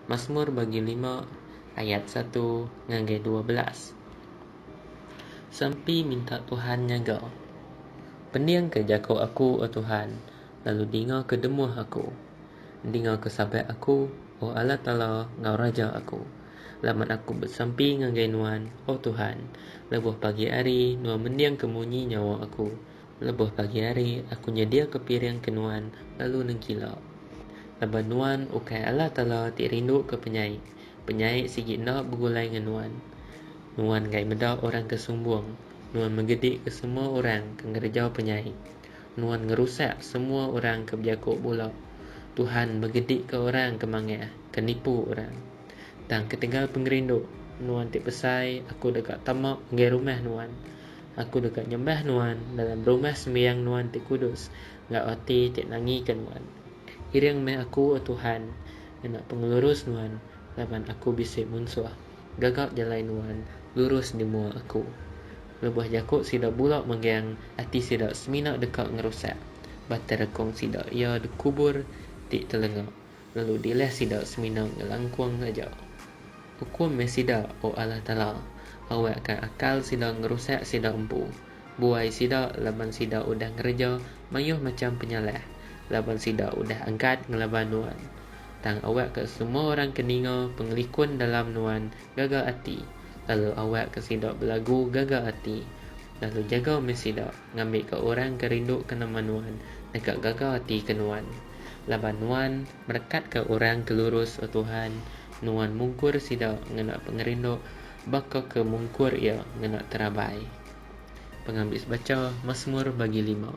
Masmur bagi lima ayat satu ngagai dua belas. Sampi minta Tuhan nyaga. Pendingka jaku aku, O Tuhan, lalu dingaka demuh aku. Dingaka sabat aku, O Allah Taala enggau Raja aku, laban aku besampi ngagai Nuan, O Tuhan, lebuh pagi hari Nuan mendingka munyi nyawa aku. Lebuh pagi hari, aku nyediaka piring ke nuan lalu nengkila. Laban nuan ukai Allah Taala ti rinduka penyai, penyai sigi enda begulai ngan nuan. Nuan enggai meda orang ke sumbung, nuan megedika semua orang ke ngereja penyai. Nuan ngerusak semua orang ke bejako bula. Tuhan megedika orang ke mangah, ke nipu orang. Tang ketegal pengerindu nuan ti besai aku deka tama enggai rumah nuan. Aku deka nyembah nuan dalam rumah sembiang nuan ti kudus enggau ati ti nangika nuan. Iring meh aku, O Tuhan, ngena pengelurus nuan laban aku bisi munsuh. Gaga jalai nuan lurus di mua aku. Lebuh jaku sida bula megang ati sida semina deka ngerusak, bata rekung sida iya dikubur ti telenga. Lalu dileh sida semina ngelangkung aja. Ukum meh sida, O Allah Taala, awakka akal sida ngerusak sida empu. Buai sida laban sida udah ngereja mayuh macham penyalah, laban sida udah angkat ngelaban Nuan. Tang awakka semua orang ke ninga pengelikun dalam Nuan gaga ati, lalu awakka sida belagu gaga ati. Lalu jaga meh sida ngambika orang ke rinduka nama Nuan deka gaga ati ke Nuan. Laban Nuan merekatka orang ke lurus, O Tuhan, Nuan mungkur sida ngena pengerindu, baka ke mungkur iya ngena terabai. Pengambi Sebaca, Masmur bagi lima.